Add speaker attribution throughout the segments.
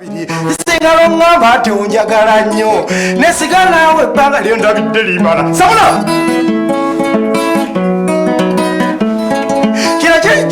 Speaker 1: isengalo ngamba nti onjagala nnyo nesiga naawe ebbanga lyo ndabidde limala sabula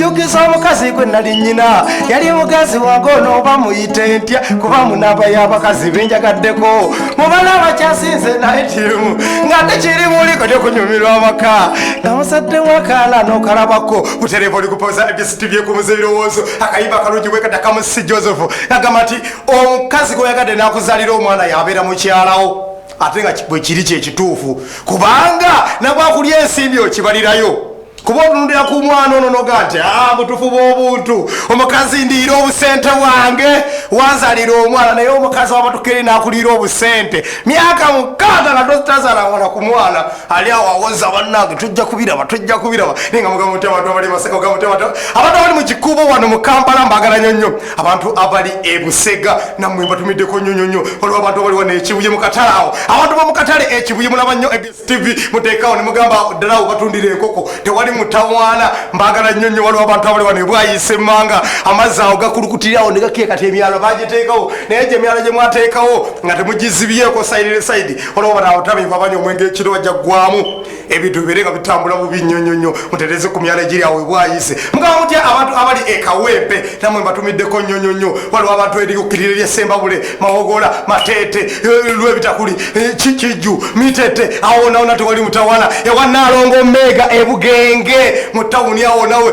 Speaker 1: njukiza omukazi gwe nali nyina yali mugazi wange onooba muyite ntya kuba munamba y'abakazi benjagaddeko mubana abakyasinze naye kirimu nga tekiri muli kati okunyumirwa amaka nga musadde wakaana n'okalabako butereeva oli kupoza tibyekumuza ebirowoozo akayimba akalungi bwekata kamusi joseph agamba nti omukazi gweyagadde nakuzalira omwana yabeera mukyalawo ate nga bwekiri kyekituufu kubanga nabwakulya ensimbi okibalirayo kuba otunulira ku mwana ono noga nti ah, butufu bwobuntu omukazi ndiira obusente bwange wanzalira omwana naye omukazi wabatukere nakuliira obusente myaka mukaaga nga tozitazalangana ku mwana ali awo awoza bannange tujja kubiraba tujja kubiraba naye nga mugamba mutya abantu abali maseka mugamba mutya abantu abantu abali mu kikuubo wano mu kampala mbagala nyo nnyo abantu abali e busega nammwe mbatumiddeko nnyo nnyo nnyo waliwo abantu abali wano ekibuye mu katale awo abantu ba mu katale ekibuye mulaba nnyo abs tv muteekawo ne mugamba ddala awo batundira enkoko tewali mutawaana mbagala nnyo nnyo waliwo abantu abali wano ebwayise emmanga amazzi awo gakulukutirirawo ne gakiye kati emyalo bagiteekawo naye gye emyalo gye mwateekawo nga temugizibyeko sayirire sayidi olaba nawe tabimba banywa omwenge ekiro wajja kugwamu ebintu bibeere nga bitambula bubi nnyo nnyo nnyo mutereze ku myala egiri awo ebwayise mugamba mutya abantu abali ekawempe namwe mbatumiddeko nnyo nnyo nnyo waliwo abantu erikukirira eryesembabule mawogola mateete eh, lwebitakuli eh, kikijju mitete awonawona tewali mutawana ewa nalongo meega ebugenge mu tawuni awonawe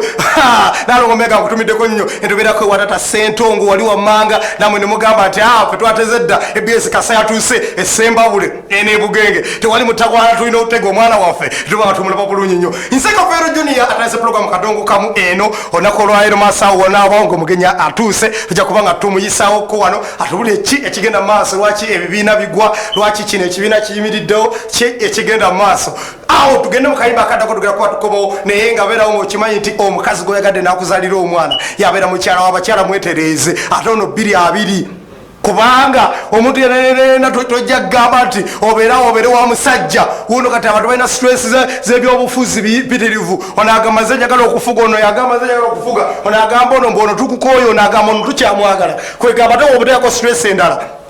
Speaker 1: nalongo meega nkutumiddeko nnyo endoberako ewatata sentongo wali wamanga namwe nemugamba nti afe ah, twateze dda ebs kasa yatuuse esembabule enebugenge tewali mutakwala tulina otega omwana waffe tuba tumulaba bulungi nyo nsekafeero junia atandise pulogulamu kadongo kamu eno olunaku olwalero masawo wonaabawo ngaomugenyi atuuse tujja kuba nga tumuyisawo ko wano atubule ki ekigenda mu maaso lwaki ebibiina bigwa lwaki kino ekibiina kiyimiriddewo ki ekigenda mu maaso awo tugende mukayimba akadako tugera kuba tukobawo naye nga beerawo ngaokimanyi nti omukazi gweyagadde nakuzalira omwana yabeera mukyala wabakyala mwetereeze ate ono bbiri abiri kubanga omuntu yenayena tojja kugamba nti obeerawo obeere wa musajja wuno kati abantu balina stress zebyobufuzi bipitirivu onagamba ze njagala okufuga ono yagamba ze njagala okufuga onagamba ono mbu ono tukukooyo onagamba ono tukyamwagala kwegamba te obuteako stress endala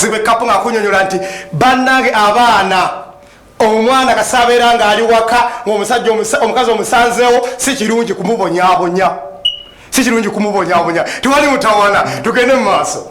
Speaker 1: zibwe kapu nga kunyonyola nti banange abaana omwana kasabeera nga ali waka ngaomusajja omukazi omusanzeewo si kirungi kumubonyabonya si kirungi kumubonyabonya tewali mutawana tugende mu maaso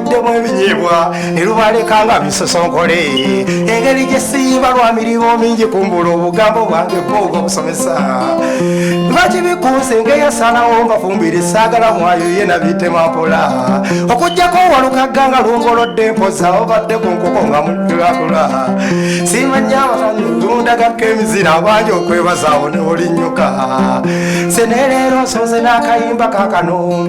Speaker 1: demu ebinyeebwa ne lubaleka nga bisosonkole engeri gye siyimba lwa mirimu mingi kumbula obugambo bwange bwoga obusomesa bakibikuusinga eyasalawo mbafumbira esaagala mwayo ye nabitema mpola okujjako walukagga nga lungolodde mpoza obadde ku nkoko nga mutulakula simanya abasanyi lundagako emizira abangi okwebazaawo ne olinyuka seneleero nsonze n'akayimba kakano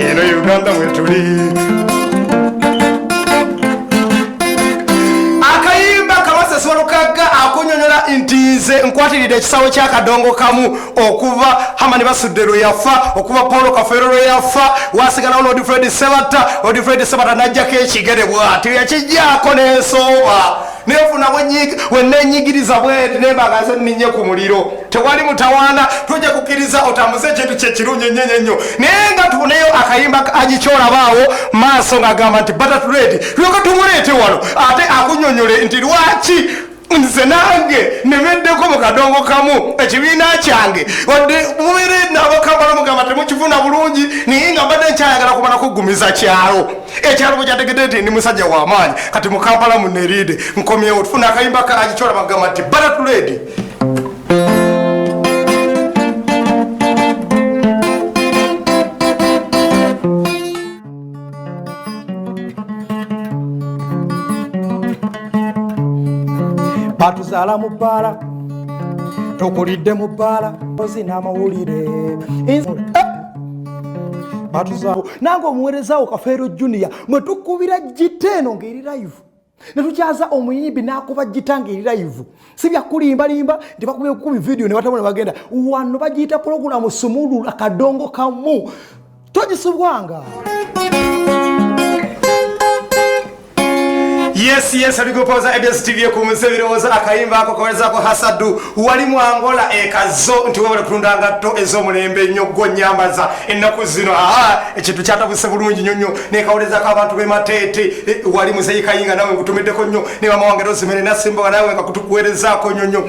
Speaker 1: eno uganda wetuli akayimba kabasesolokaga akunyonyola nti nze nkwatiridde ekisawo kyakadongo kamu okuva hamani basudde lwe yafa okuva paulo kafeero lwe yafa wasigalawo lodifred sebatta odifred sebatta najjako ekigere bwati yakijjako nensooba nefuna wenenyigiriza bweti nembagaze ninye ku muliro tewali mutawaana tujja kukkiriza otambuze ekintu kyekirungi enyo enyo enyo naye nga tuneyo akayimba agikyolabaawo maaso ngagamba nti batatuleti lyoka tumuleete wano ate akunyonyole nti lwaki nze nange nemeddeko mu kadongo kamu ekibiina kyange wadde mubeere nabakambala mugamba temukifuna bulungi naye nga mbadde nkyayagala kumala kuggumiza kyalo ekyalo bwekyategedde nti ndi musajja wamaanyi kati mukampala muneriide nkomyewo tufuna akayimba kangi kyolaba kugamba nti baratuledi batuzaala mu bbaala tokulidde mu bbaala ozi n'amawulire batuzaawo nange omuweerezaawo kafeero junior mwe tukubira gita eno ng'eri layivu ne tukyaza omuyimbi n'akuba gita ng'eri layivu si byakulimbalimba nti bakuba ekubi vidiyo ne batamu ne bagenda wano bagiyita pulogulamu sumulula kadongo kamu togisubwanga yes yes abigupoza abs tv ekumisa ebirowoozo akayimba ako kawerezako hasadu wali mu angola ekazo nti webale kutunda ngatto ez'omulembe ennyo gwo nyambaza ennaku zino aa ekintu kyatabuse bulungi nyo nyo nekawulezako abantu bemateete e, wali muzeyi kayinga nawe nkutumiddeko nnyo nebamawange rosemere nasimboga nawe nga kutukuwerezaako nyo nyo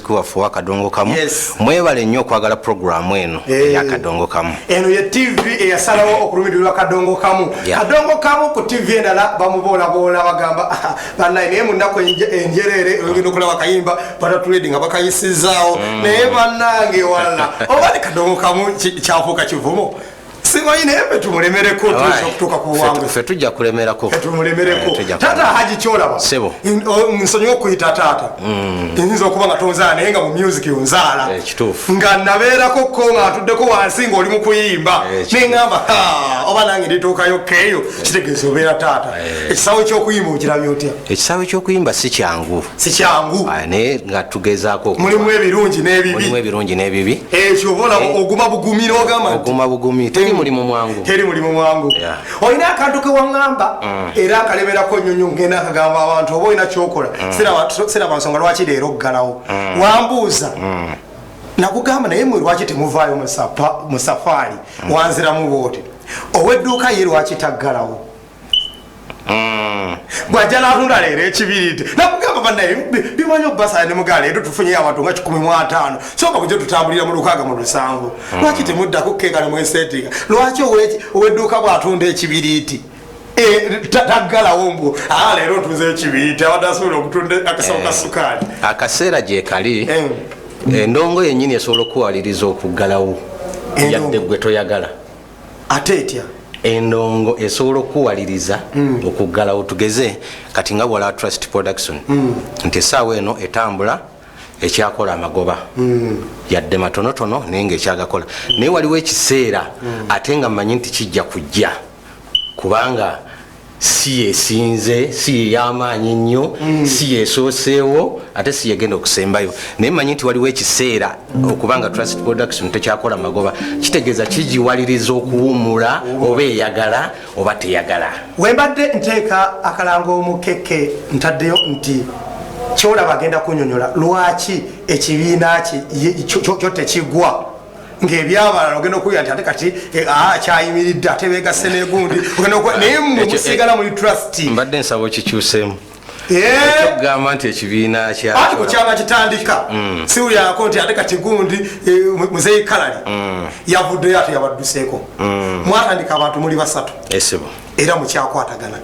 Speaker 2: waffe owa kadongo kamu mwebale nnyo okwagala puroguramu eno eh. eya kadongo kamu eno ye tv
Speaker 1: eyasalawo okulumirirwa kadongo kamu kadongo kamu ku tv endala bamuboolaboola bagamba ah, banaye naye munaku enjereere oyogenda okulaba kayimba batatuledi nga bakayisizaawo mm. naye banange wala oba ni kadongo kamu kyafuuka kivumo simanyi naye fe tumulemereko tuyinza okutuuka ku buwangu fe tujja kulemerako
Speaker 2: fe tumulemereko eh,
Speaker 1: taata haji kyolaba sebo
Speaker 2: nsonyiwa okuyita
Speaker 1: taata mm. nyinza okuba nga tonzaala naye nga mu music onzaala eh, kituufu nga
Speaker 2: nabeerako
Speaker 1: ko nga atuddeko wansi nga oli mu kuyimba eh, neŋamba oba nange ndituukayo keeyo kitegeeza obeera taata ekisaawe ky'okuyimba okirabya otya ekisaawe ky'okuyimba
Speaker 2: si kyangu sikyangu ah, naye nga tugezaako mulimu ebirungi
Speaker 1: nebibimulimu ebirungi n'ebibi ekyo obola eh, oguma bugumi n'ogamba oguma bugumi teri
Speaker 2: mulimu mwangu teri mulimu mwangu olina akantu
Speaker 1: kewaŋŋamba mm. era akalemerako nyonyo ngenda akagamba abantu oba olina kyokola mm. siraba nsonga lwaki leero okugalawo mm. wambuuza nakugamba naye mwe lwaki temuvaayo mu safaari wanziramu bwoti owedduuka ye lwaki taggalawo Mm. bwajala ahunda leero ekibiriti nakugamba banaye bimanyi okubasala ne mugaa leero tufunye abantu nga kikumi mu ataano soka kujo tutambulira mu lukaaga mu lusanvu mm. lwaki temuddako keeka ne mwesetinga lwaki owedduuka bwatunda ekibiriti e, taggalawo mbu aa leero ntuze ekibiriti abadde asobola okutunda akasawo ka eh. sukaali akaseera gyekali
Speaker 2: eh. endongo yennyini esobola okukuwaliriza okuggalawo yadde gwe toyagala ate
Speaker 1: etya endongo
Speaker 2: esobola okukuwaliriza mm. okuggalawo tugeze kati nga wala trust production mm. nti esaawa eno etambula ekyakola amagoba mm. yadde matonotono naye nga ekyagakola mm. naye waliwo ekiseera mm. ate nga manyi nti kijja kujja kubanga si yesinze si yeyamaanyi nnyo mm. si yesooseewo ate si yegenda okusembayo naye manyi nti waliwo ekiseera okuba nga transit production tekyakola magoba kitegeeza kigiwaliriza okuwumula oba eyagala oba teyagala wembadde nteeka
Speaker 1: akalango omukeke ntaddeyo nti kyolaba agenda kunyonyola lwaki ekibiina kyo tekigwa ngebyabalala ogenda okuwulira nti ate kati eh, ah, kyayimiridde ate begasse negundi naye musiigala muli trust mbadde nsaba
Speaker 2: okikyusemu okugamba eh? nti ekibiina kyati ku kyama
Speaker 1: kitandika mm. siwulyako nti ate kati gundi eh, muzeyi kalali mm. yavuddeyo ate yabadduseeko mm. mwatandika abantu muli basatu era mukyakwatagana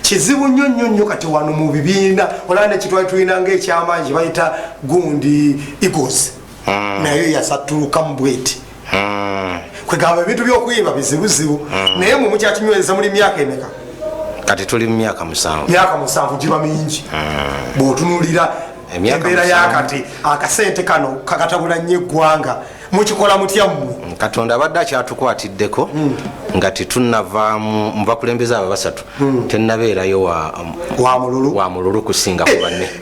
Speaker 1: kizibu nnyo nnyo nnyo kati wano mu bibiina olaba nekitwali tulina ngaekyamaanyi bayita gundi eagles mm. nayo yasattulukamu bweti mm. kwegamba ebintu byokwiba bizibuzibu mm. naye mwe mukyakinyweza muli myaka emeka kati tuli
Speaker 2: mu myaka musanvu myaka musanvu giba mingi
Speaker 1: bwotunulira embeera yakati akasente kano kakatabula nnyo eggwanga mukikola mutya mmwe mm, katonda abadde
Speaker 2: akyatukwatiddeko mm. nga tetunavaamu mubakulembeza abo basatu mm. tenabeerayo wa mululu kusinga ku banne eh,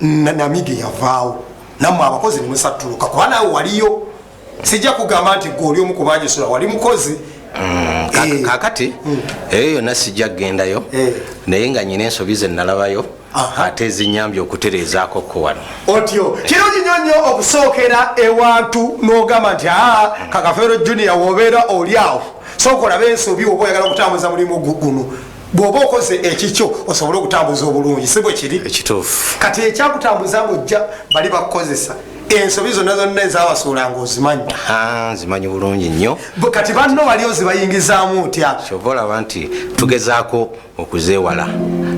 Speaker 1: namige yavaawo namwe abakozi nemusattuluka kuba nawe waliyo sijja kugamba nti gwe oli omu kubanjisula wali mukozi mm, eh.
Speaker 2: kakati mm. eyo yonna sijja kugendayo eh. naye nga nyina ensobi ze nalabayo ate ezinyambye okutereezaako ko wano otyo kirungi
Speaker 1: nyo nnyo okusookera ewantu n'ogamba nti aa mm. kakafeero junior wobeera oli awo sooka olabe ensobi oba oyagala okutambuza mulimu guguno bwoba okoze ekikyo osobole okutambuza obulungi si bwe kiri ekituufu kati
Speaker 2: ekyakutambuza
Speaker 1: ngojja bali bakukozesa ensobi zonna zonna ezabasuulanga ozimanyi nzimanyi
Speaker 2: bulungi nnyo kati banno bali
Speaker 1: ozibayingizaamu otya kyova olaba nti
Speaker 2: tugezaako okuzeewala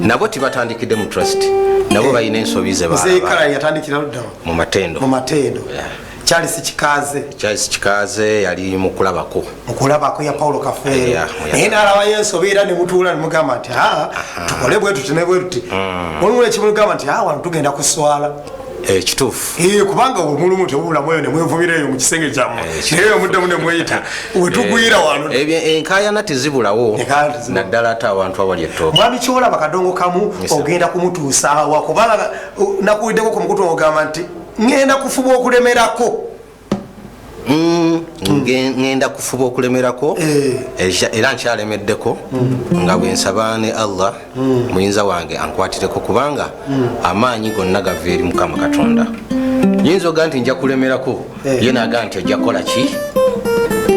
Speaker 2: nabo tibatandikidde mu trust nabo eh, balina ensobi zebaekala yatandikira
Speaker 1: luddawa mu matendo mu
Speaker 2: matendo yeah. Charles
Speaker 1: Kikaze. Charles
Speaker 2: Kikaze yali mukulabako. Mukulabako ya Paulo
Speaker 1: Kafeero. Yeah, yeah. Naye n'alaba Yesu obeera ne mutuula ne mugamba nti haa ah, tukole bwe tuti ne bwe tuti. Mm. Olumu ne kimugamba nti haa ah, wano tugenda kuswala. Eh, kituufu.
Speaker 2: Eh, kubanga omulumu
Speaker 1: tewubula mwoyo ne mwevumira eyo mu kisenge kyammwe. Eh, Naye eyo muddamu ne mweyita. We tugwira eh, wano. Ebyo eh, enkaayana
Speaker 2: tezibulawo. Naddala ate abantu awali ettooke. Mwami Kiwola bakadongo
Speaker 1: kamu ogenda kumutuusa awa kubanga nakuwuliddeko ku mukutu ogamba nti ŋŋenda kufuba okulemerako
Speaker 2: ŋŋenda mm, kufuba okulemerako eh. era nkyalemeddeko mm. nga bwe nsaba ne allah mm. muyinza wange ankwatireko kubanga amaanyi gonna gava eri mukama katonda nyinza oga nti nja kulemerako eh. ye naga nti ojja kukola ki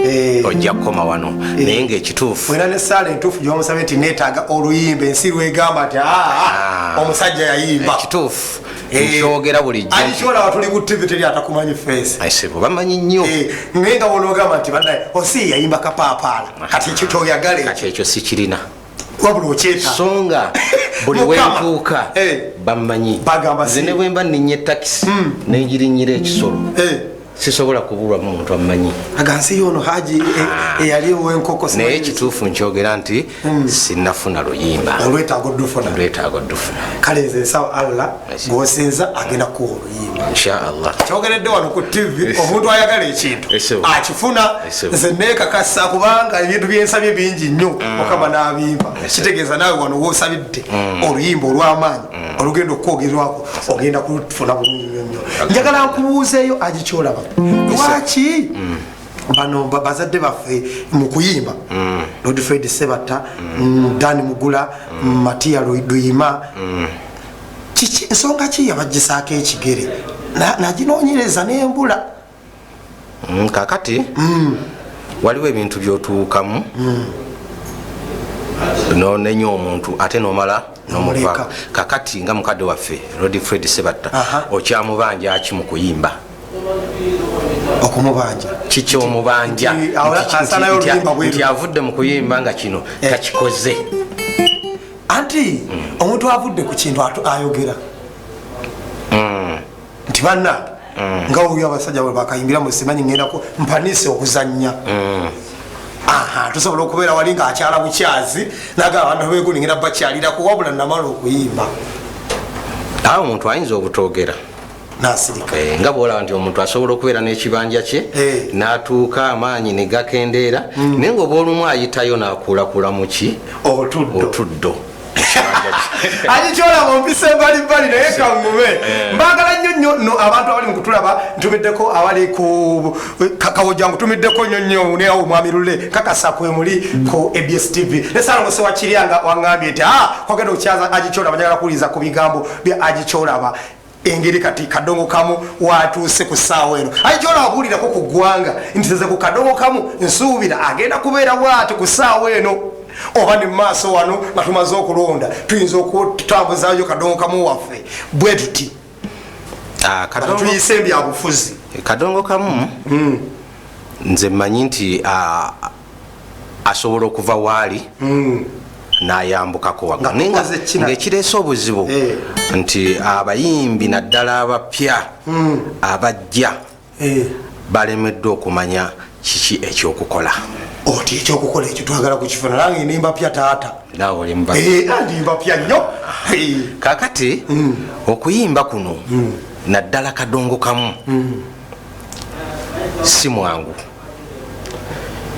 Speaker 2: Eh. ojja kukoma wano eh. naye ngaekituufu era nesaala entuufu
Speaker 1: gyomusabye nti netaaga oluyimba ensi lwegamba nti ah, ah, ah. omusajja yayimba ekituufu
Speaker 2: ekyogera eh, bulijjo alikiwala watuli ku tv
Speaker 1: teri atakumanyi face aisebo bamanyi nnyo
Speaker 2: eh, naye nga wonogamba
Speaker 1: nti banaye osi yayimba kapaapaala ah. kati ekyo kyoyagale kati ekyo sikirina
Speaker 2: wabula okyeta
Speaker 1: so nga
Speaker 2: buli wentuuka eh. bamanyi zine bwemba ninya etakisi hmm. nenjirinyira ekisolo sisobola kubulwamu omuntu ammanyi agansi yono haji
Speaker 1: e- ah. eyali owenkoko naye ekituufu
Speaker 2: nkyogera nti hmm. sinafuna luyimba olwetaago dufuna
Speaker 1: olwetaago dufuna kale nze nsawa allah gwosinza agenda kuwa oluyimba inshaallah kyogeredde
Speaker 2: wano ku
Speaker 1: tv omuntu ayagala ekintu akifuna nze nekakasa kubanga ebintu byensabye bingi nnyo hmm. mukama nabimba kitegeeza naawe wano wosabidde hmm. oluyimba olwamaanyi mm. olugenda okukwogerwako ogenda kufuna bulungi nyo nyo njagala nkubuuzeeyo agikyolaba mm. lwaki mm. bano bazadde baffe mu kuyimba lord fred sebatta dan mugula matiya luyima nsonga ki yabagisaako ekigere naginoonyereza nembula mm,
Speaker 2: kakati mm. waliwo ebintu byotuukamu mm. nonenya omuntu ate nomala nomuva kakati nga mukadde waffe rod fred sebatta okyamubanja aki mu kuyimba
Speaker 1: okumubanja kiki
Speaker 2: omubanja nti avudde mu kuyimba nga kino eh. takikoze
Speaker 1: anti mm. omuntu avudde ku kintu ayogera nti banange mm. nga oyo abasajja bwe bakayimbira mu simanyi ngendako mpanise okuzannya mm. aha tusobola okubeera wali nga akyala bukyazi naga abantu begulingira bakyalirako wabula namala okuyimba
Speaker 2: awo omuntu ayinza obutogera nasirika
Speaker 1: eh, nga bwolaba nti
Speaker 2: omuntu asobola okubeera n'ekibanja kye eh. natuuka amaanyi negakendeera mm. naye ngaoba olumu ayitayo nakuulakula muki otuddo
Speaker 1: agicola mu mpisa embalimbali naye kaŋŋume eh. mbagala nnyo nnyo no abantu abali mu kutulaba ntumiddeko abali ku kawoja ngutumiddeko nnyo nnyo neawo omwami lule kakasa kwe muli ku abs tv nesalongose wakirya nga waŋŋambye nti a ah, kwagenda okukyaza agicola banyagala kuwuliriza ku bigambo bya agicolaba engeri kati kadongo kamu watuuse ku ssaawa eno aye kyona abuulirako ku ggwanga nti zeze ku kadongo kamu nsuubira agenda kubeera bwati ku ssaawa eno oba ne mumaaso wano nga tumaze okulonda tuyinza okutambuzayo kadongo kamu waffe bwe tuti ah, tuyise ebyabufuzi kadongo kamu
Speaker 2: hmm. nze mmanyi nti ah, asobola okuva waali hmm. nayambukako waga naye ngaekireese obuzibu eh. nti abayimbi naddala abapya hmm. abajja eh. balemeddwa okumanya kiki ekyokukola oti
Speaker 1: ekyokukola ekyo twagala kukifuna nange nimbapya taata naolimbapya eh, nyo kakati
Speaker 2: hmm. okuyimba kuno naddala kadongo kamu si mwangu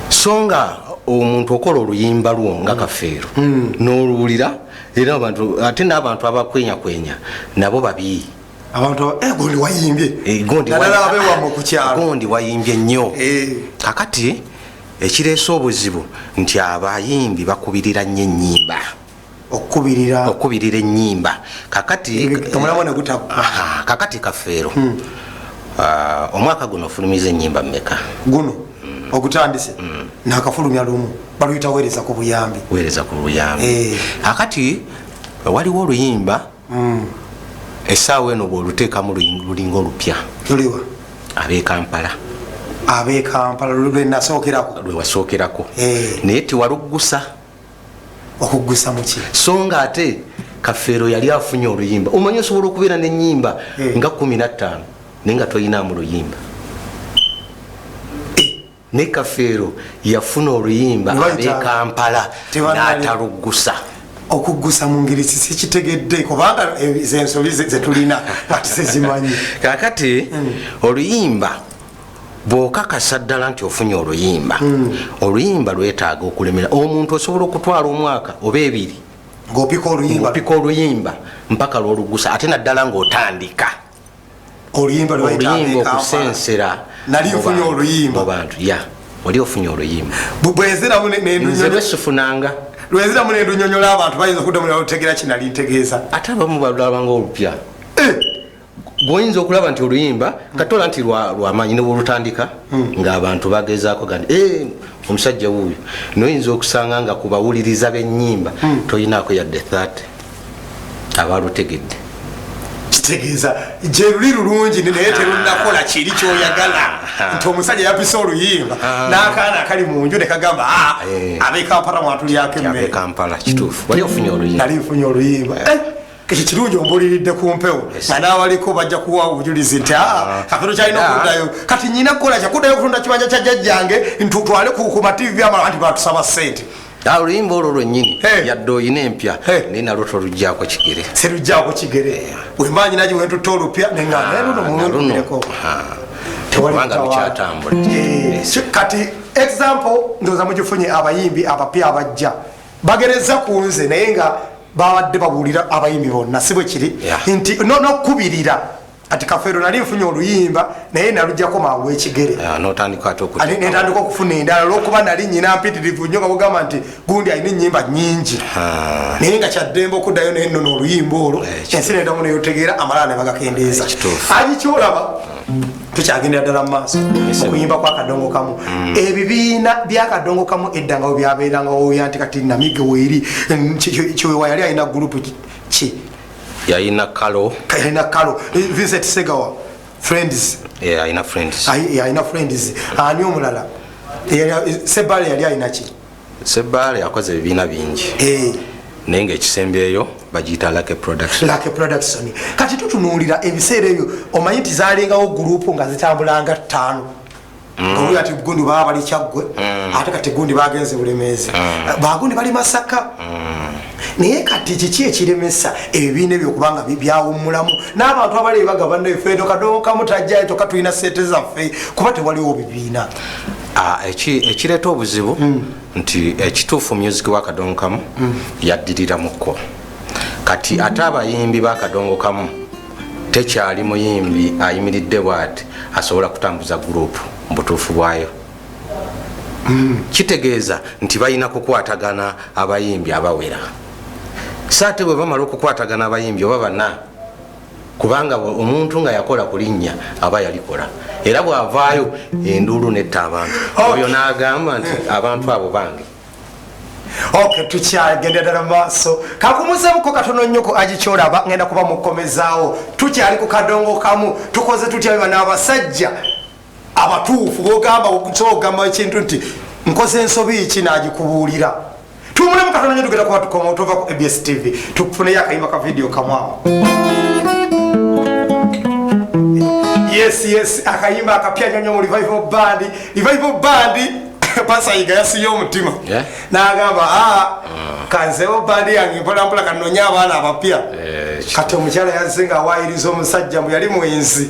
Speaker 2: so nga omuntu okola oluyimba lwo nga kafeero hmm. n'oluwulira era abantu ate n'abantu abakwenyakwenya nabo babi abantu eh,
Speaker 1: gondi wayimbye eh,
Speaker 2: gondi wayimbye nnyo eh. kakati ekireese obuzibu nti abayimbi bakubirira nnyo ennyimba okukubirira enyimba kakati kakati kafeero hmm. ah, omwaka guno ofulumiza enyimba meka guno hmm.
Speaker 1: ogutandise hmm. nakafulumya lumu baluyita wereza ku buyambi wereza ku buyambi eh. kakati
Speaker 2: waliwo oluyimba esaawa eno bwoluteekamu lulinga olupya luliwa
Speaker 1: abekampala abekampala lwenasookerako lwewasookerako eh. naye tiwaluggusa okuggusa muki so nga ate
Speaker 2: kafeero yali afunye oluyimba omanyi osobola okubeera nenyimba eh. nga kumi nattaano naye nga toyinaamu luyimba eh, ne kafeero yafuna oluyimba abekampala nataluggusa okuggusa
Speaker 1: mu ngeri sikitegedde kubanga eh, zensobi zetulina ati sezimanyi kakati
Speaker 2: hmm. oluyimba bwokakasa ddala nti ofunye oluyimba hmm. oluyimba lwetaaga okulemera omuntu osobola okutwala omwaka oba ebiri ngopika oluyimba mpaka lwolugusa ate naddala ngaotandika oluyimba okusensera
Speaker 1: mubantu ya
Speaker 2: oli ofunye oluyimba nze
Speaker 1: lwesifunanga
Speaker 2: lweziramu
Speaker 1: nendunyonyola abantu bayinza okuddamu nalutegeera kinali ntegeeza ate abamu balulabanga
Speaker 2: olupya eh! gwoyinza okulaba nti oluyimba katola nti lwamaanyi newolutandika hmm. ngaabantu bagezaako gani eh, omusajja wuuyo noyinza okusanga nga ku bawuliriza benyimba hmm. toyinaako yadde 30 abalutegedde kitegeeza
Speaker 1: gyeruli lulungi naye terunakola kiri kyoyagala ah. nti omusajja yapisa oluyimba ah. n'akaana akali mu nju nekagamba ah, eh. abekampala mwatulyako emmekampala kituufu wali
Speaker 2: ofunye oluyimba nali nfunye oluyimba eh.
Speaker 1: ekyo kirungi ombuliridde ku mpewo nga n'abaliko bajja kuwa obujulizi nti aa kakano kyalina okuddayo kati nyina kukola kyakuddayo okutunda kibanja kya jjajjange ntutwale ku mativi amala nti batusaba ssente Ah, oluyimba olwo
Speaker 2: lwenyini yadde olina empya naye nalwo tolujjako kigere sirujjako kigere
Speaker 1: wembanyi nagi wentutta olupya nenganerunomuluneko ah,
Speaker 2: tewalibanga lukyatambula eh, kati
Speaker 1: example ndoza mugifunye abayimbi abapya abajja bagereza ku nze naye nga babadde babuulira abayimbi bonna si bwe kiri nti nokukubirira kati kafeero nali nfunye oluyimba naye nalujjako mangu ekigere
Speaker 2: netandika okufuna
Speaker 1: endala olwokuba nali nyina mpitirivu nyo nga bugamba nti gundi alina enyimba nyingi naye nga kyaddembe okuddayo naye nono oluyimba olwo ensi nedamu neyotegeera amalala nebagakendeeza agikyolaba tukyagendera ddala mumaaso okuyimba kwa kadongo kamu mm. ebibiina byakadongo kamu eddangawo byabeerangawo byanti kati namige weeri kyewa yali alina gurupu ki yalina
Speaker 2: kalo yalina kalo eh,
Speaker 1: vincent segawa friends
Speaker 2: alina friends
Speaker 1: ani omulala sebale yali alinaki Sebaale akoze
Speaker 2: ebibiina bingi eh. naye ngaekisembyeyo bagiyita lake production kati tutunuulira
Speaker 1: ebiseera ebyo omanyi nti zalingawo gurupu nga zitambulanga ttaano mm. omu ati gundi baba bali kyaggwe mm. ate kati gundi bagenze bulemeezi mm. bagundi bali masaka naye kati kiki ekiremesa ebibiina ebyo kubanga byawummulamu n'abantu abali ebagabanaefe tokadookamu tajjayo toka tulina sente zaffe kuba tewaliwo bibiina Ah,
Speaker 2: ekireeta obuzibu hmm. nti ekituufu eh, music wakadongo kamu hmm. yaddiriramuko kati hmm. ate abayimbi bakadongo kamu tekyali muyimbi ayimiridde bwati asobola kutambuza gurupu mubutuufu bwayo kitegeeza nti balina kukwatagana abayimbi abawera saate bwe bamala okukwatagana abayimbi oba bana kubanga omuntu nga yakola ku linnya aba yalikola era bw'avaayo enduulu netta abantu oyo n'agamba nti abantu abo bange
Speaker 1: ok tukyagenda ddala mu maaso kakumuzemuko katono nnyo ku agikyolaba ngenda kuba mukomezaawo tukyali ku kadongo kamu tukoze tutya biba n'abasajja abatuufu bogamba kyogamba ekintu nti nkoze ensobi ki nagikubuulira tumulemu katonda nyo tugenda kuba tukoma otova ku abs tv tukufuneyo akayimba ka vidiyo kamwawo yes yes akayimba akapya nyonyo mu revival band revival band pasayiga yasiye omutima yeah. nagamba a ah, ah. kanzewo bandi yange mpolampola kanonya abaana abapya yeah, kati omukyala yazinga awayiriza omusajja mbu yali mwenzi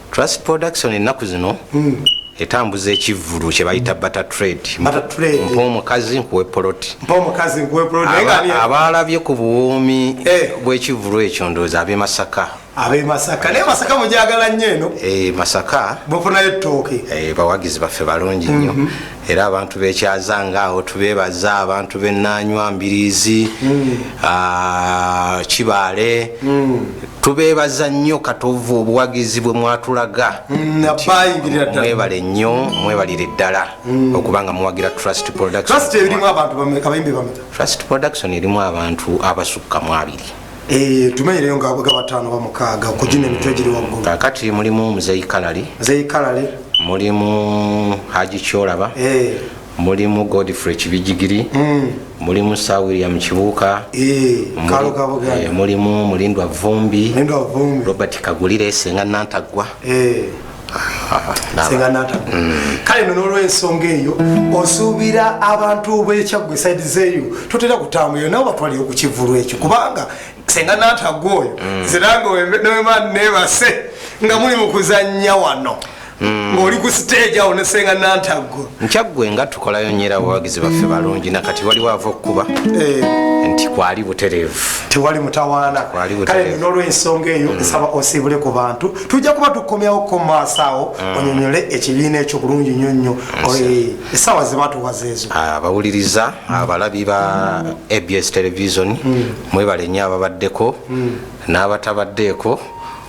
Speaker 1: Trust production
Speaker 2: ennaku zino mm. etambuza ekivvulu kye bayita bata trade mpa omukazi nkuwe poloti abaalabye ku buwoomi eh. bw'ekivvulu ekyo ndowooza ab'e masaka ab'e masaka naye
Speaker 1: masaka mujagala nnyo eno eh, masaka
Speaker 2: bufunayo ettooke
Speaker 1: eh, bawagizi baffe
Speaker 2: balungi nnyo mhm. era abantu bekyaza nga awo tubebaza abantu benanywa mbirizi mm. ah, kibaale mm. tubeebaza nnyo katovu obuwagizi bwe mwatulaga mm, mwebale nnyo mwebalire ddala mm. okuba nga muwagira trust productiontrust production erimu abantu abasukka mu abiri eh, tumenyereyo nga bwega
Speaker 1: bataano bamukaaga okugina emitwe egiri waggulu mm, kakati mulimu muzeyi
Speaker 2: kalali mulimu haji kyolaba eh. mulimu godfrey kibijigiri mm. mulimu sa william kibuuka eh, eh, mulimu mulindwa vumbi robert kagulire senga nantaggwa eh. mm. kale no nolwensonga eyo osuubira abantu bekyaggwa esaidi zeeyo totera kutambulira nabo batwaliyo ku kivulu ekyo kubanga senga nantaggwa oyo mm. ziranga newema nebase nga muli mu kuzannya wano Hmm. ng'oli ku siteegi awo ne senga nantaggo nkyaggwe nga tukolayo nyera abawagizi baffe balungi nakati waliwo ava okukuba eh. nti kwali butereevu tewali mutawaana
Speaker 1: kale nolwensonga eyo hmm. nsaba osiibule ku bantu tujja kuba tukomyawo ko maaso awo hmm. onyonyole ekibiina ekyo bulungi nyo nnyo esaawa zebatuwaza ezo ah, abawuliriza
Speaker 2: abalabi ba abs television mwebale nnyo ababaddeko n'abatabaddeeko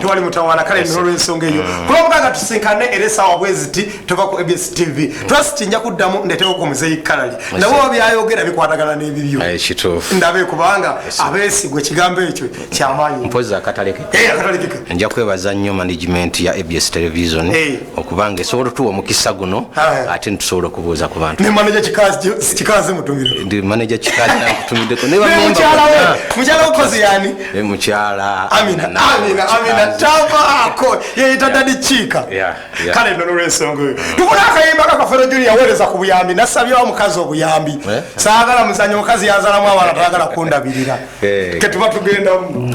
Speaker 1: tewali mutawaana kale nina olwensonga eyo mm. kulwokuba nga tusinkane era esaawa bweziti tova ku abs tv mm. twasiti nja kuddamu ndetewo ku muzeyi kalali nabo babyayogera bikwatagana n'ebibyo eh, ndabe kubanga abeesigwa ekigambo ekyo kyamaanyi mpozi akatalekeke
Speaker 2: eh, nja kwebaza nnyo management ya abs television eh. okuba nga esobola otuwa omukisa guno ate nitusobola okubuuza ku bantu ndi maneja
Speaker 1: kikazi nakutumiddeko
Speaker 2: mukyalamukyalaokoziyanimukyalaamkale
Speaker 1: nolwensonga eyo tubula akayimba kakafero juni yaweereza ku buyambi nasabyawo omukazi obuyambi eh? saagala muzanya omukazi yazalamu abaana tagala kundabirira eh. ketuba tugendamu